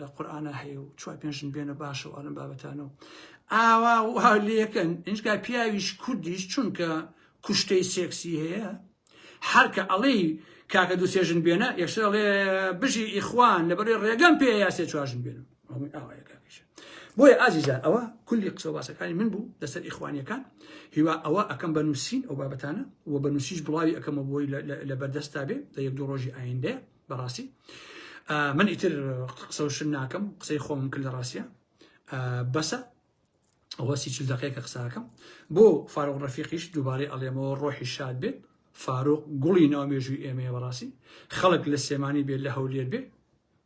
لە قورآنا هەیە و چوار پێنج ژن بێنە باشە و ئەلەم بابەتانە و ئاوا وا لەکەن ئینجا پیاویش کوردیش چونکە کوشتەی سێکسی هەیە هەرکە ئەڵێ کاکە دوو سێ ژن بێنە یەکسەر ئەڵێ بژی ئیخوان لەبەرێ ڕێگەم پێ یا سێ چوار ژن بێنم هەمووی ئاوایە کاکەش بۆیە ئازیزان ئەوە کولی قسە و باسەکانی من بوو لەسەر ئیخوانیەکان هیوا ئەوە ئەکەم بە نووسین ئەو بابەتانە و بە نووسیش بڵاوی ئەکەمە بۆی لە بەردەستا بێ لە یەک دوو ڕۆژی ئایندە بەڕاستی ئە من ئیتر قسەوشن ناکەم قسەی خۆم کرد لە ڕاستە ئە بەسە ئەوە سی چل دقەیەکە قساکەم بۆ فاروق ڕفیقیش دووبارەی ئەڵێمەوە ڕۆحی شاد بێت فاروق گوڵی ناو مێژووی ئێمەیە بەڕاستی خەڵک لە سێمانی بێت لە هەولێر بێ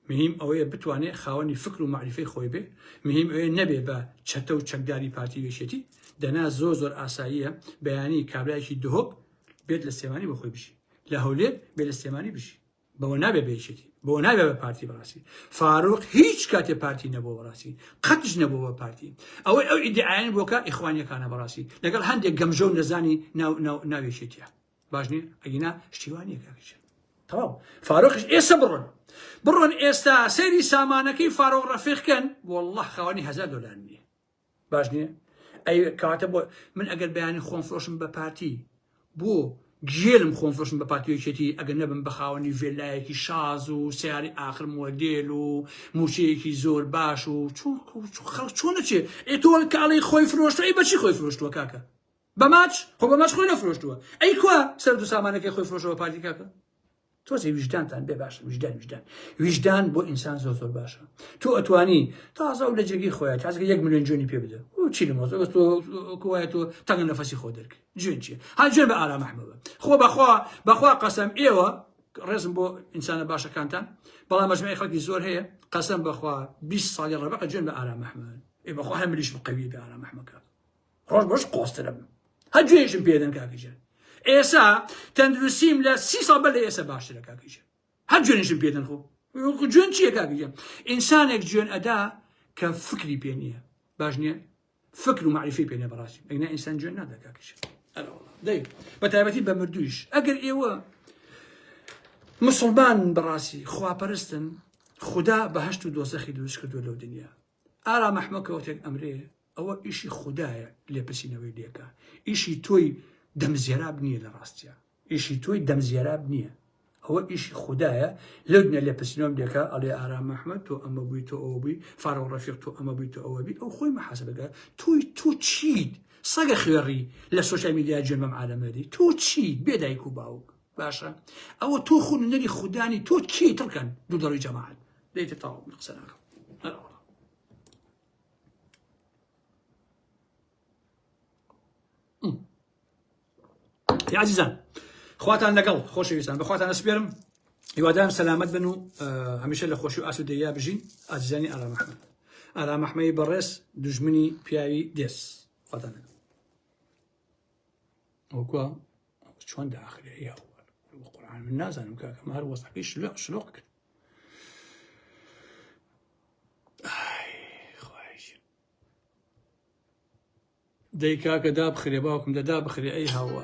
مهیم ئەوەیە بتوانێت خاوەنی فکر و معریفەی خۆی بێ مهیم ئەوێ نەبێ بە چەتە و چەکداری پارتی وێشێتی دەنا زۆر زۆر ئاساییە بەیانی کابراایکی دهۆک بێت لە سێمانی بە خۆی بژی لە هەولێر بێ لە سلێمانی بژی بەوە نابێ بە یەکێتی بەوە نابێ بە پارتی بەڕاستی فاروق هیچ کاتێ پارتی نەبووە بەڕاستی قەتش نەبوو بە پارتی ئەوەی ئەو ئیدعایان بۆکە ئیخوانیەکانە بەڕاستی لەگەڵ هەندێک گەمژە و نەزانی ناوێشێتە باش نیە ئەگینا شتیوانیە کاکچ تەواو فاروقش ئێستا بڕۆن بڕۆن ئێستا سەیری سامانەکەی فاروق ڕەفیقکەن والله خاوەنی هزار دلار نیە باش نییە ئەی کاتە بۆ من ئەگەر بەیانی خۆم فرۆشم بە پارتی بۆ گێلم خۆم فرۆشم بە پارتیۆکێتی ئەگەر نەبم بە خاوەنی ڤێلایەکی شاز و سیاری ئاخر مۆدێل و موچەیەکی زۆر باش و خەڵک چۆن نەچێ ئێ تۆ کاڵی خۆی فرۆشتوە ئەی بەچی خۆی فرۆشتووە کاکە بە ماچ خۆ بە ماچ خۆی نەفرۆشتووە ئەی کوا سەر دو سامانەکەی خۆی فرۆشەوە پارتی کاکە تۆزێ ویژدانتان بێ باشە ویژدان ویژدان ویژدان بۆ ئینسان زۆر زۆر باشە تۆ ئەتوانی تازە و لە جێگەی خۆیان تازگە یەک میلیۆن جوێنی پێ بدە و چی لە مۆزۆ تۆ کوایە تۆ تەنگ نەفەسی خۆ دەرکە جوێن چیە ها جوێن بە ئارام ئەحمەوە خۆ بەخوا بەخوا قەسەم ئێوە ڕێزم بۆ ئینسانە باشەکانتان بەڵام مەجموعی خەڵکی زۆر هەیە قەسەم بەخوا 20 ساڵی ڕەبقە جوێن بە ئارام ئەحمەوە ئێ بەخوا هەمریش بقەوی بە ئارام ئەحمەکە ڕۆژ بەش قۆسترم هە گوێژم پێدەن کاکەژێن ئێسا تەندروستیم لە سی ساڵ بەر لە ئێستا باشترە کاکەژێن هەر جوێنشم پێدەن خۆ جوێن چییە کاکەژێن ئینسانێک جوێن ئەدا کە فکری پێ نییە باش نییە فکر و معریفی پێ نیە بەڕاستی ئەگنا ئینسان جوێن نادا کاکەژێن دەی بە تایبەتی بە مردویش ئەگەر ئێوە مسلمان بەڕاستی خواپەرستن خدا بەهشت و دۆزەخی دروست کردو لەو دنیا ئارا مەحمەکەوتێک ئەمرێ ئەوە ئیشی خودایە لێپرسینەوەی لێکا ئیشی تۆی دەم زێراب نییە لە ڕاستیا ئیشی تۆی دەم زێراب نییە ئەوە ئیشی خودایە لەو دنیا لێپرسینەوەم لێکا ئەڵێ ئارام ئەحمەد تۆ ئەمە بووی تۆ ئەوە بووی فارەوە ڕەفیق تۆ ئەمە بووی تۆ ئەوە بی ئەو خۆی محاسبەکە تۆی تۆ چیت سەگە خوێڕی لە سوشیال میدیا جوێن بەم عالەمەری تۆ چی بێ دایک و باوک باشە ئەوە تۆ خۆ نەری خودانی تۆ کی تڕکەن دوو دەڕی جەماعەت دەیتە تاو قسە ناکەم عزیزان خواتان لەگەڵ خۆشەویستان بەخواتان سپێرم هیوادارم سەلامت بن و هەمیشە لە خۆشی و ئاسودەیە بژین ئازیزانی ئارامەحمد ئارامەحمەی بەڕێز دژمنی پیاوی دێس خواتان لەگەڵ وەکوە چۆن داخلێ یا قورآن من نازانم کاکەم هەر وەسەکەی شلۆق شلۆق کرد دەی کاکە دابخرێ باوکم دەدا بخرێ ئەی هاوار